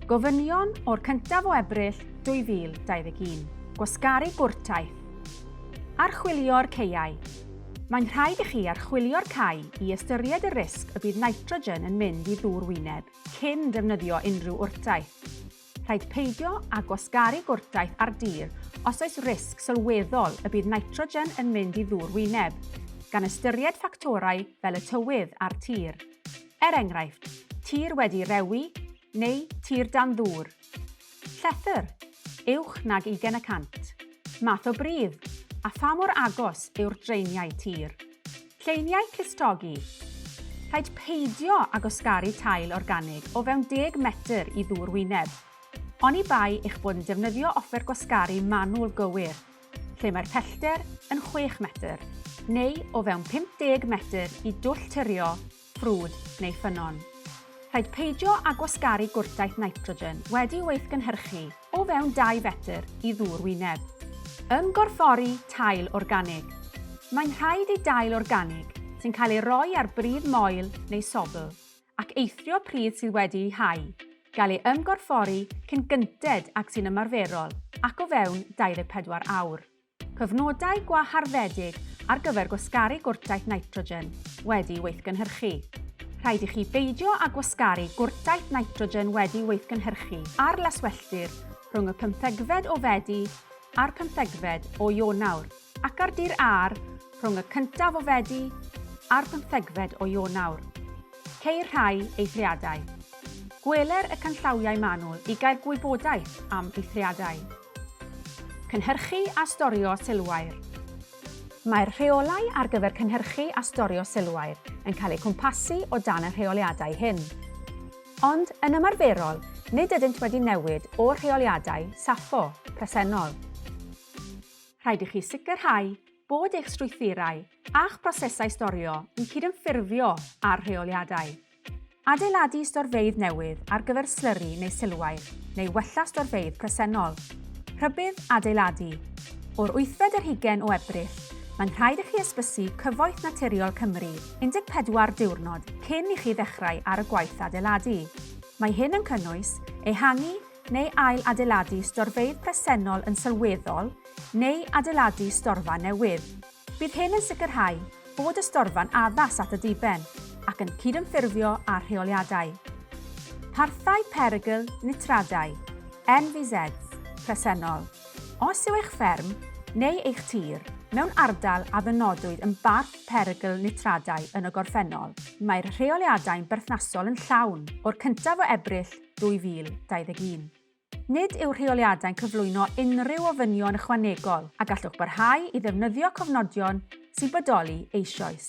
Gofynion o'r 1af o Ebrill 2021. Gwasgaru gwrtaith. Archwilio'r ceiau. Mae'n rhaid i chi archwilio'r cae i ystyried y risg y bydd nitrogen yn mynd i ddŵr wyneb cyn defnyddio unrhyw wrtaith. Rhaid peidio â gwasgaru gwrtaith ar dir os oes risg sylweddol y bydd nitrogen yn mynd i ddŵr wyneb, gan ystyried ffactorau fel y tywydd a'r tir. Er enghraifft, tir wedi rewi neu tir dan ddŵr. Llethr, uwch nag 20 y cant. Math o bridd, a pha mor agos yw'r draeniau tir. Lleiniau clustogi. Rhaid peidio â gwasgaru tail organig o fewn 10 metr i ddŵr wyneb. Oni bai eich bod yn defnyddio offer gwasgaru manwl gywir, lle mae'r pellter yn 6 metr, neu o fewn 50 metr i dwll tyrio ffrwd neu ffynnon. Rhaid peidio â gwasgaru gwrtaith nitrogen wedi'i weithgynhyrchu o fewn 2 fetr i ddŵr wyneb. Ymgorffori tail organig. Mae'n rhaid i dail organig sy'n cael ei roi ar bridd moel neu sobl ac eithrio pridd sydd wedi'i hau gael ei ymgorffori cyn gynted ag sy'n ymarferol ac o fewn 24 awr. Cyfnodau gwaharddedig ar gyfer gwasgaru gwrtaith nitrogen wedi weithgynhyrchu. Rhaid i chi beidio â gwasgaru gwrtaith nitrogen wedi weithgynhyrchu ar laswelltir rhwng y pymthegfed o Fedi a'r pymthegfed o Ionawr ac ar dir aer rhwng y cyntaf o Fedi a'r pymthegfed o Ionawr. Ceir rhai eithriadau. Gweler y canllawiau manwl i gael gwybodaeth am eithriadau. Cynhyrchu a storio silwair Mae'r rheolau ar gyfer cynhyrchu a storio silwair yn cael eu cwmpasu o dan y rheoliadau hyn. Ond, yn ymarferol, nid ydynt wedi newid o'r rheoliadau, SAFO, presennol. Rhaid i chi sicrhau bod eich strwythurau a'ch prosesau storio yn cydymffurfio â'r rheoliadau. Adeiladu storfeydd newydd ar gyfer slyri neu silwair, neu wella storfeydd presennol. Rhybudd adeiladu. O'r wythfed yr hugain o Ebrill, mae'n rhaid i chi ysbysu Cyfoeth Naturiol Cymru 14 diwrnod cyn i chi ddechrau ar y gwaith adeiladu. Mae hyn yn cynnwys ehangu neu ail-adeiladu storfeydd presennol yn sylweddol neu adeiladu storfa newydd. Bydd hyn yn sicrhau bod y storfa'n addas at y diben ac yn cydymffurfio â'r rheoliadau Parthau Perygl Nitradau, NVZs, presennol. Os yw eich fferm neu eich tir mewn ardal a ddynodwyd yn barth perygl nitradau yn y gorffennol, mae'r rheoliadau'n berthnasol yn llawn o'r cyntaf o Ebrill 2021. Nid yw'r rheoliadau'n cyflwyno unrhyw ofynion ychwanegol a gallwch barhau i ddefnyddio cofnodion sy'n bodoli eisoes.